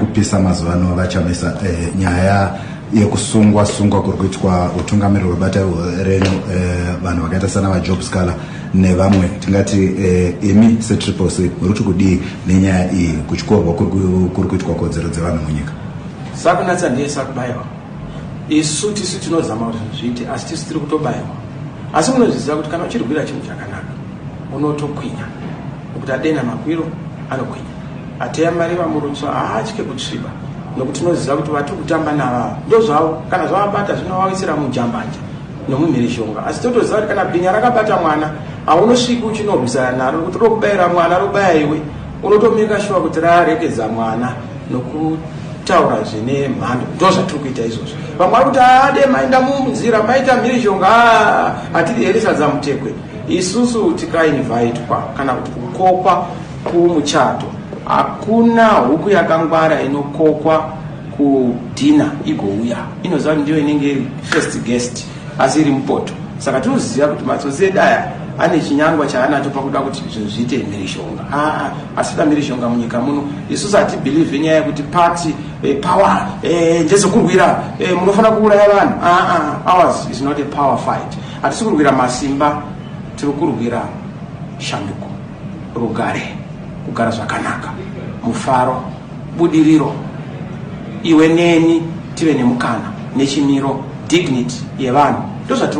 kupisa mazuva ano vachamisa eh, nyaya yekusungwa sungwa kuri kuitwa utungamiriri hwebata renu eh, vanhu vakaita sana vajob scala nevamwe tingati eh, imi setriple c muri kuti kudii nenyaya iyi kutyorwa kuri kuitwa kodzero dzevanhu munyika sakunatsa ndiye sakubaiwa isu tisu tinozama kuti zviite asi tisu tiri kutobaiwa asi munozviziva kuti kana uchirwira chinhu chakanaka unotokwinya nokuti adena makwiro anokwinya Ateya Mari Vamurutswa haatye kutsviba nokuti tinoziva kuti vatiri kutamba navava ndozvavo kana zvavabata zvinovawisira mujambanja nomumhirizhonga asi totoziva kuti kana bhinya rakabata mwana haunosviki uchinorwisana naro kuti rokubayira mwana robaya iwe unotomeka shuwa kuti raregedza mwana nokutaura zvine mhando ndo zvatiri kuita izvozvo vamwe vari kuti ade mainda munzira maita mhirizhonga hatiri here sadzamutekwe isusu tikainvaitwa kana kuti kukokwa Kumuchato hakuna huku yakangwara inokokwa kudhina igouya inoziva kuti ndiyo inenge iri first guest asi iri mupoto saka tinoziva kuti matsotsi edu aya ane chinyangwa chaanacho pakuda kuti zvinhu zviite mhirishonga aa asida mhirishonga munyika muno isusu hatibhilivhe nyaya yekuti party e, power e, ndezokurwira e, munofanira kuuraya vanhu aa ours is not a power fight hatisi kurwira masimba tiri kurwira shanduko rugare kugara zvakanaka mufaro budiriro iwe neni tive nemukana nechimiro dignity yevanhu ndozvatiri